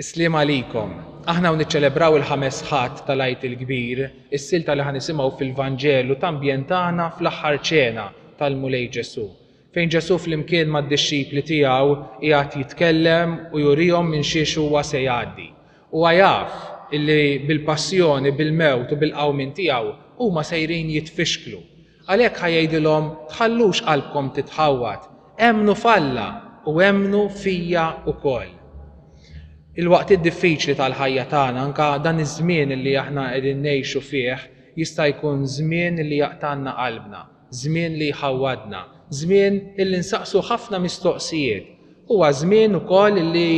Is-sliem għalikom. Aħna hawn niċċelebraw il-Ħames Ħadd tal-Għid il-Kbir, is-silta li ħa nisimgħu fil-Vanġelu tambjentana fl-Aħħar Ċena tal-Mulej Ġesù, fejn Ġesù flimkien mad-dixxipli tiegħu qiegħed jitkellem u jurihom minn xiex huwa se jgħaddi. Huwa jaf illi bil-passjoni, bil-mewt u bil-qawmien tiegħu huma sejrin jitfixklu. Għalhekk ħa jgħidilhom, Tħallux qalbkom titħawwad, emmnu f'Alla u emmnu fija wkoll. Il-waqtiet diffiċli tal-ħajja tagħna, anke dan iż-żmien li aħna qegħdin ngħixu fih, jista' jkun żmien li jaqtgħalna qalbna, żmien li jħawwadna, żmien li nsaqsu ħafna mistoqsijiet. Huwa żmien ukoll li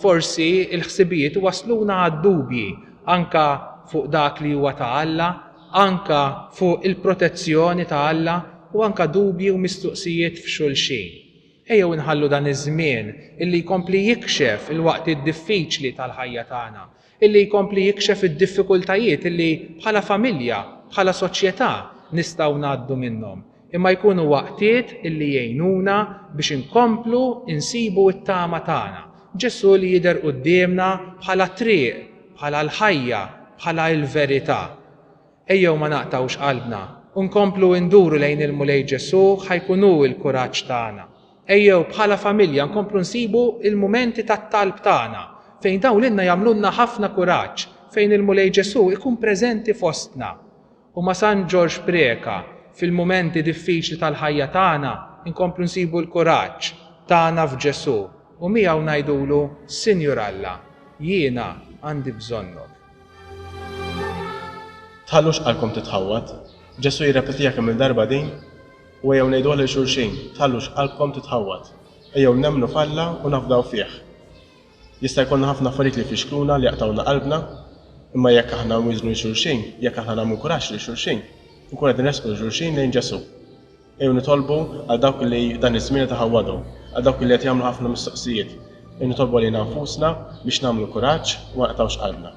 forsi l-ħsibijiet iwassluna għad-dubji anke fuq dak li huwa ta' Alla, anke fuq il-protezzjoni ta' Alla u anke dubji u mistoqsijiet f'xulxin. Ejjew inħallu dan iż-żmien illi jkompli jikxef il-waqtiet diffiċli tal-ħajja tagħna, illi jkompli jikxef id-diffikultajiet illi bħala familja, bħala soċjetà nistgħu ngħaddu minnhom. imma jkunu waqtiet li jgħinuna biex inkomplu nsibu t-tama tagħna, Ġesù li jidher quddiemna bħala t-triq, bħala l-ħajja, bħala l-verità. Ejjew ma naqtgħux qalbna u nkomplu nduru lejn il-Mulej Ġesù ħa jkun hu l-kuraġġ tagħna. Ejjew bħala familja nkomplu nsibu l-mumenti tat-talb tagħna, fejn dawn lilna jagħmlulna ħafna kuraġġ, fejn il-Mulej Ġesù jkun preżenti fostna. U ma' San Ġorġ Preca, fil-mumenti diffiċli tal-ħajja tagħna nkomplu nsibu l-kuraġġ tagħna f'Ġesù u miegħu ngħidulu, Sinjur Alla, jiena għandi bżonnok. Tħallux qalbkom titħawwad. Ġesù jirrepetiha kemm-il darba din, u ejjew ngħiduha lil xulxin, tħallux qalbkom titħawwad. Ejjew nemmnu f'Alla u nafdaw fih. Jista' jkollna ħafna affarijiet li jfixkluna, li jaqtgħuna qalbna, imma jekk aħna nwiżnu lil xulxin, jekk aħna nagħmlu kuraġġ lil xulxin, inkunu qed nressqu lil xulxin lejn Ġesù. Ejjew nitolbu għal dawk li f'dan iż-żmien qed iħawwadhom, għal dawk li qed jagħmlu ħafna mistoqsijiet. Ejjew nitolbu għalina nfusna biex nagħmlu kuraġġ u ma naqtgħux qalbna.